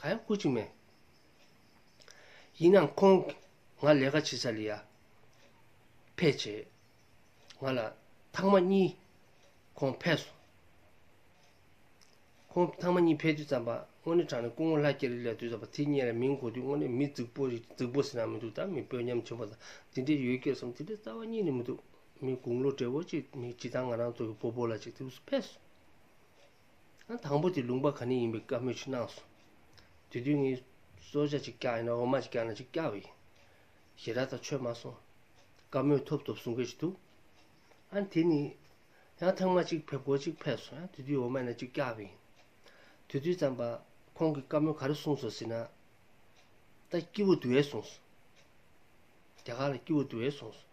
གང་ཡང་བསྐུར་ཅིག་མེད། ཡིན་ནའང་ཁོང་ང་ལས་ཀ་བྱེད་ས་ལ་ཡར་ཕེད་བྱས། ང་ལ་ཐང་མ་གཉིས་ཁོང་ཕེད་སོང། ཁོང་ཐང་མ་གཉིས་ཕེད་དུས་རྩམ་པ་དངོས་གནས་དྲངས་ནས་སྐུ་ངོ་ལྷ་རྒྱལ་རིག་ལས་དུས་རྩམ་པ་དེ་རྙེད་ལ་མིང་གོ་དུས་དངོས་གནས་མི་རྫིག་པོ་རེད་རྫིག་པོ་ཟེར་ན་མི་འདུག་ད་མི་དཔོན་ཉམས་ཆེན་པོ་དང་དེ་འདྲས་ཡོད་སྐད་བསམ་དེ་འདྲའི་རྩ་བ་གཉིས་ནི་མི་འདུག་མི་དགུང་ལོ་བགྲེས་པོ་གཅིག་མི་སྤྱི་དང་ང་རང་ཚོ་གི་སྤོ་སྤོ་ལ་ཅིག་དུས་སུ་ཕེད་སོང། དང་པོ་དེ་ལུང་པ་ག་ནས་ཡིན་པའི་བཀའ་མོལ་ཅིག་གནང་སོང། དེ་དུས་ངས་སོར་བརྒྱ་ཅིག་བཀྱགས་ཡིན་ན་འོ་མ་ཅིག་བཀྱགས་ན་ཅིག་བཀྱགས་པ་ཡིན། ཞེ་དྲག་དང་ཆོད་མ་སོང། བཀའ་མོལ་ཐོབ་ཐོབ་གསུང་སྐད་ཅིག་འདུག་ཨང། དེ་ནི། ཡང་ཐང་མ་ཅིག་ཕེབས་སྐོར་ཅིག་ཕེབས་སོང་ཡང་དེ་དུས་འོ་མ་ཡིན་ན་ཅིག་བཀྱགས་པ་ཡིན། དེ་དུས་ཙམ་པ་ཁོང་གིས་བཀའ་མོལ་ག་རེ་གསུང་སོང་ཟེར་ན། ད་སྐྱིད་བོ་འདུག་ཨེ་གསུང་སོང། རྒྱ་གར་ལ་སྐྱིད་བོ་འདུག་ཨེ་གསུང་སོང།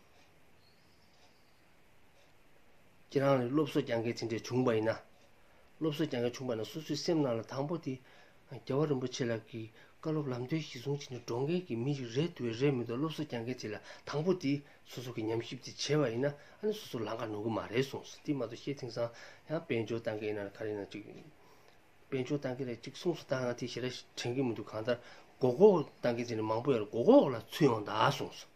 ཁྱེད་རང་ལ་སློབ་གསོ་རྒྱག་མཁན་ཅི་འདྲའི་བྱུང་བ་ཡིན་ན། སློབ་གསོ་རྒྱག་མཁན་བྱུང་བ་ན་སོ་སོའི་སེམས་ནང་ལ་དང་པོ་དེ། རྒྱལ་བ་རིན་པོ་ཆེ་ལགས་ཀྱིས་བཀའ་སློབ་ལམ་སྟོན་གཞི་བཟུང་བྱས་ནས་འགྲོ་མཁན་གྱི་མི་ཞིག་རེད་འདུག་བས་རེད་མི་འདུག་སློབ་གསོ་རྒྱག་མཁན་ཅིག་ལ་དང་པོ་དེ་སོ་སོ་གིས་ཉམས་ཞིབ་དེ་བྱས་པ་ཡིན་ན་ཨ་ནི་སོ་སོ་ལང་ཀ་ནོར་གི་མ་རེད་གསུངས་སོ་དེ་མ་གཏོགས་ཤེས་ཐེངས་སང་ཡང་དཔལ་འབྱོར་བཏང་གི་ཡིན་ན་ག་རེ་ཡིན་ན་ཅིག། དཔལ་འབྱོར་བཏང་གི་རེད་ཅིག་གསུངས་སོ་ད་ང་དེ་ཞེ་དྲག་དྲན་གི་མི་འདུག་གང་ལྟར་མགོ་སྐོར་བཏང་མཁན་ཅིག་ནས་མང་པོ་ཡོད་རེད་མགོ་སྐོར་ལ་ཚུད་ཡོང་གདའ་གསུངས་སོ།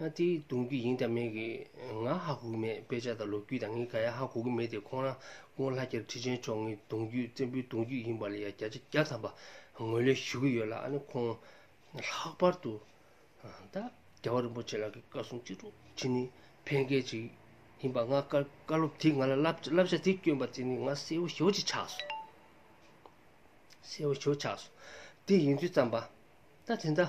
ཧ་དེའི་གདུང་རྒྱུད་ཡིན་དང་མེད་ཀྱི་ང་ཧ་གོ་གི་མེད་དཔེ་ཆ་དང་ལོ་རྒྱུས་དང་ངའི་ག་ཡ་ཧ་གོ་གི་མེད་དེ་ཁོང་རང་སྔོན་ལྷ་རྒྱལ་ཁྲི་ཆེན་མཆོག་ངའི་གདུང་རྒྱུད་བཙན་པོའི་གདུང་རྒྱུད་ཡིན་པ་ལ་ཡ་བརྒྱ་ཆ་བརྒྱ་ཐམ་པ་ངོས་ལེན་ཞུ་གི་ཡོད་ལ་ཨ་ནི་ཁོང་ལྷག་པར་དུ་ད་རྒྱལ་བ་རིན་པོ་ཆེ་ལགས་ཀྱི་བཀའ་སྲུང་གཅིག་གྲོགས་གཅིག་ནི་ཕན་སྐད་ཅིག་ཡིན་པ་ང་བཀའ་སློབ་དེ་ང་ལ་བསླབ་བྱ་དེ་བསྐྱོན་པ་དེ་ནི་ང་གསལ་བོ་ཞོ་གཅིག་ཆགས་སོང་གསལ་བོ་ཞོ་ཆགས་སོང་དེ་ཡིན་དུས་བརྩམས་པ་ད་དེ་འདྲ་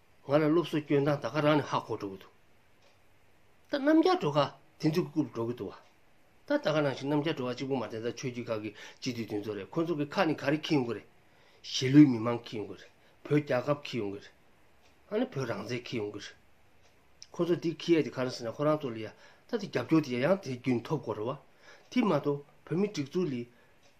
ང་ལ་སློབ་གསོ་སྐྱོན་དང་ད་ག་རང་ནས་ཧ་གོ་འགྲོ་གི་འདུག་ད་རྣམ་རྒྱལ་བྲོ་ག་དེ་ཚོ་གི་རྐུབ་འགྲོ་གི་འདུག་བ་ད་ད་ག་རང་ཞིག་རྣམ་རྒྱལ་བྲོ་ག་གཅིག་པུ་མ་བསྟན་ད་ཆོས་རྒྱུད་ཁག་གི་སྤྱི་འཐུས་དེ་ཚོ་རེད་ཁོ་ཚོ་གི་ཁ་ནས་ག་རེ་ཁྱི་ཡོང་གི་རེད་གཞིས་ལུས་མི་མང་ཁྱི་ཡོང་གི་རེད་བོད་རྒྱལ་ཁབ་ཁྱི་ཡོང་གི་རེད་ཨ་ནི་བོད་རང་བཙན་ཁྱི་ཡོང་གི་རེད་ཁོ་ཚོ་དེ་ཁྱི་ཡ་དེ་ག་རང་ཟེར་ན་ཁོ་རང་ཚོ་ལ་ཡ་ད་དེ་རྒྱབ་སྐྱོར་དེ་ཡ་ཡང་དེ་རྒྱུན་ཐོབ་དགོས་རེད་བ་དེ་མ་གཏོགས་བོད་མི་སྒྲིག་འཛུགས་ལས་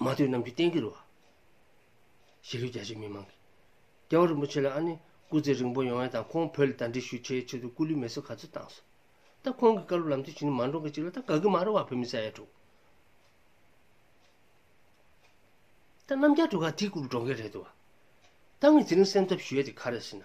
མ་ཐོས་རྣམས་ཀྱི་གཏན་གྱི་རུ་བ། ཞི་ལུའི་རྒྱ་ཆེ་མི་མང་གི། རྒྱལ་བ་རིན་པོ་ཆེ་ལ་ཨ་ནི་སྐུ་ཚེ་རིང་པོ་ཡོང་བའི་དང་ཁོང་བོད་ལ་དར་འདྲི་ཞུ་བྱའི་ཆེད་དུ་སྐུ་ལུས་མེ་གསོད་ག་ཚོད་བཏང་སོང། ད་ཁོང་གི་བཀའ་སློབ་ལམ་སྟོན་བྱེད་ནི་མ་འགྲོ་གི་ཅིག་ལ་ད་དགའ་གི་མ་རེད་བ་བོད་མི་ས་ཡ་དྲུག། ད་རྣམ་རྒྱལ་དྲུག་ག་དེ་སྐུ་རུ་འགྲོ་མཁན་རེད་འདུག་བ། ད་ངས་ཚེ་རིང་སེམས་འཚབ་ཞུ་ཡ་དེ་ག་རེ་ཟེར་ན།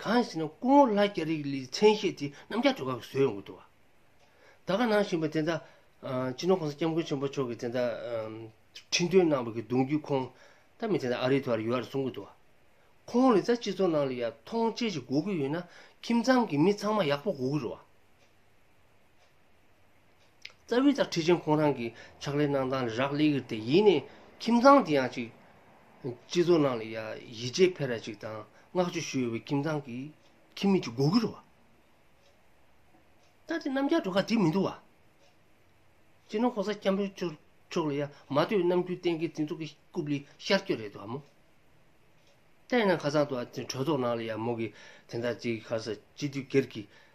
གང་ཞེ་ན་སྐུ་ངོ་ལྷ་རྒྱ་རིགས་ལིའི་མཚན་ཤས་དེ་རྣམ་རྒྱལ་གྲོལ་ཁག་གི་བཟོས་ཡོང་གི་འདུག་བ། ད་ག་ནང་བཞིན་པ་དེ་ད་སྤྱི་ནོར་གོང་ས་སྐྱབས་མགོན་ཆེན་པོ་མཆོག་གིས་དེ་ད་ཁྲི་འདོན་གནང་བ་གི་གདུང་རྒྱུད་ཁོང་ད་མི་དེ་ད་ཨ་རི་དུ་བར་ཡོད་ར་གསུང་གི་འདུག་བ། ཁོང་ལི་ད་སྤྱི་ཚོགས་ནང་ལ་ཡ་མཐོང་ཅེ་ཞིག་གོ་གི་ཡོད་ན་ཁྱིམ་ཚང་གི་མི་ཚང་མ་ཡག་པོ་གོ་གི་རོ་བ། རྩ་བའི་ལྟར་ཁྲི་ཆེན་ཁོང་རང་གི་ཕྱག་ལས་གནང་སྟངས་ལ་རག་ལས་ཀྱི་སྟེ་ཡིན་ནའི་ཁྱིམ་ཚང་དེ་ཡང་ཅིག། སྤྱི་ཚོགས་ནང་ལ་ཡ་ཡིད་ཆེས་འཕེར་ར་ཅིག་དང་བསྔགས་བརྗོད་ཞུ་འོས་པའི་ཁྱིམ་ཚང་གི་ཁྱིམ་མི་ཅིག་དགོས་ཀྱི་རོ། ད་དེ་རྣམ་རྒྱལ་གྲོ་ག་དེ་མི་འདུག་བ། སྤྱིར་ན་ཁོང་ས་སྐྱ་འབོད་ཆོག་ཆོག་ལ་ཡ་མ་ལྟོས་རྣམ་རྒྱུན་གཏན་འཁེལ་དེ་ཚོ་གི་རྐུབ་ལི་ཤར་སྐྱོད་རེད་འདུག་བ་མོ། ལྟས་ན་ཁ་སང་དུ་ཨ་ཏི་གྲོས་ཚོགས་ནང་ལ་ཡ་མོ་གི་དེ་འདྲ་དེའི་ཁར་ས་སྤྱི་འཐུས་སྒེར་གྱི་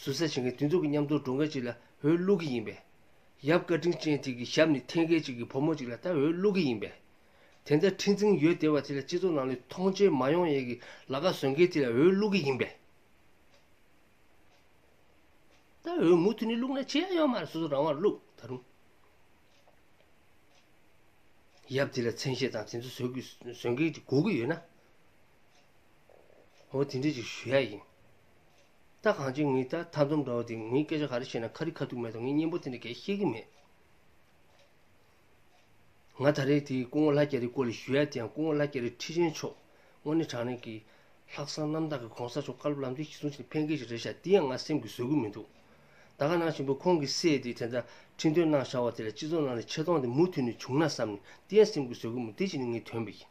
ཟུར་ཟ་བྱེད་མཁན་དེ་ཚོ་གི་མཉམ་དུ་འགྲོ་མཁན་ཅིག་ལ་འོས་བླུག་གི་ཡིན་པས། ཡབ་བཀའ་དྲིན་ཅན་དེ་གི་ཞབས་ནི་འཐེན་མཁན་ཅིག་གི་བུ་མོ་ཅིག་ལ་ད་འོས་བླུག་གི་ཡིན་པས། དེ་འདྲ་འཁྲིག་འཛིང་ཡོད་བདེ་བ་དེ་ལ་སྤྱི་ཚོགས་ནང་ལས་མཐོང་ཆེན་མ་ཡོང་ཡས་གི་ལ་ཁ་བཟོས་མཁན་དེ་ལ་འོས་བླུག་གི་ཡིན་པས། ད་འོས་མུ་མཐུད་ནས་བླུག་ན་ཅི་ཡང་ཡོད་མ་རེད་སོ་སོ་རང་དབང་བླུག་ད་རུང། ཡབ་དེ་ལ་མཚན་ཤས་དང་དེ་ཚོ་བཟོས་གི་བཟོས་མཁན་ཅིག་གོ་གི་ཡོད་ན། འོ་དེ་འདྲས་ཅིག་ཞུ་ཡ་ཡིན། ད་གང་ཅིའི་ངའི་ད་མཐའ་འཛོམས་འདྲ་བོ་དེ་ངའི་སྐད་ཆ་ག་རེ་བཤད་ན་ཁ་རི་ཁ་ཐུག་མེད་དོ་ངས་སྙན་པོ་དེ་འདྲ་གས་ཤེས་ཀྱི་མེད། ང་ད་རེས་དེ་སྐུ་ངོ་ལྷ་རྒྱ་རིའི་སྐོར་ལས་ཞུ་ཡ་དེ་ཡང་སྐུ་ངོ་ལྷ་རྒྱ་རི་ཁྲི་ཆེན་མཆོག་དངོས་གནས་དྲང་གནས་ཀྱི་ལྷག་བསམ་རྣམ་དག་གི་གོང་ས་མཆོག་བཀའ་སློབ་ལམ་སྟོན་གཞི་བཟུང་བྱས་ནས་ཕན་མཁས་ཤིག་རེད་ཤག་འདི་ཡང་ང་སེམས་ཀྱི་བཟོད་སྒོ་མི་འདུག་ད་ག་ནང་ཆེན་པོ་ཁོང་གི་སྲས་དེ་དེ་འདྲ་ཁྲི་འདོན་གནང་ཤག་བ་དེ་ལ་སྤྱི་ཚོགས་ནང་ནས་ཆེ་མཐོང་དེ་མུ་མཐུད་ནས་བྱུང་ན་བསམ་ནས་འདི་ཡང་སེམས་ཀྱི་བཟོད་སྒོ་མི་འདི་གཅིག་ནི་ངའི་དོན་པ་ཡིན།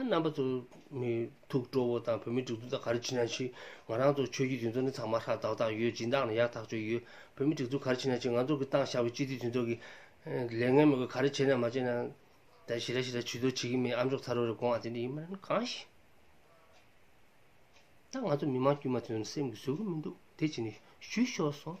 རྣམ་པ་ཚོ། མི་ཐུག་སྤྲོ་བོ་དང་བོད་མི་སྒྲིག་འཛུགས་དང་ག་རེ་བྱེད་ན་བྱི། ང་རང་ཚོ་ཆོས་བརྒྱུད་དེ་ཚོ་ནི་ཚང་མ་ཧྲག་ཏག་ཏག་ཡོད་སྦྱིན་བདག་ནི་ཡག་ཐག་ཆོད་ཡོད། བོད་མི་སྒྲིག་འཛུགས་ག་རེ་བྱེད་ན་བྱི་ང་ཚོ་གི་བཏང་བཞག་པའི་སྤྱི་འཐུས་དེ་ཚོ་གི། ལས་ངན་མི་དགོས་ག་རེ་བྱེད་ན་མ་བྱེད་ན། དེ་ཞི་ར་ཞི་ར་བྱི་དོ་བྱེད་ཀྱི་མིན་ཨ་མཆོག་ཚ་རོ་རེ་དགོངས་ཨ་དེ་འདྲ་ཡིན་མིན་གང་ཞིག། ད་ང་ཚོ་མི་མང་དཀྱུས་མ་དེ་ཚོ་ནི་སེམས་ཀྱི་ཟོལ་གྱི་མི་འདུག་དེ་བྱེད་ནི་བྱུས་ཤོར་སོང།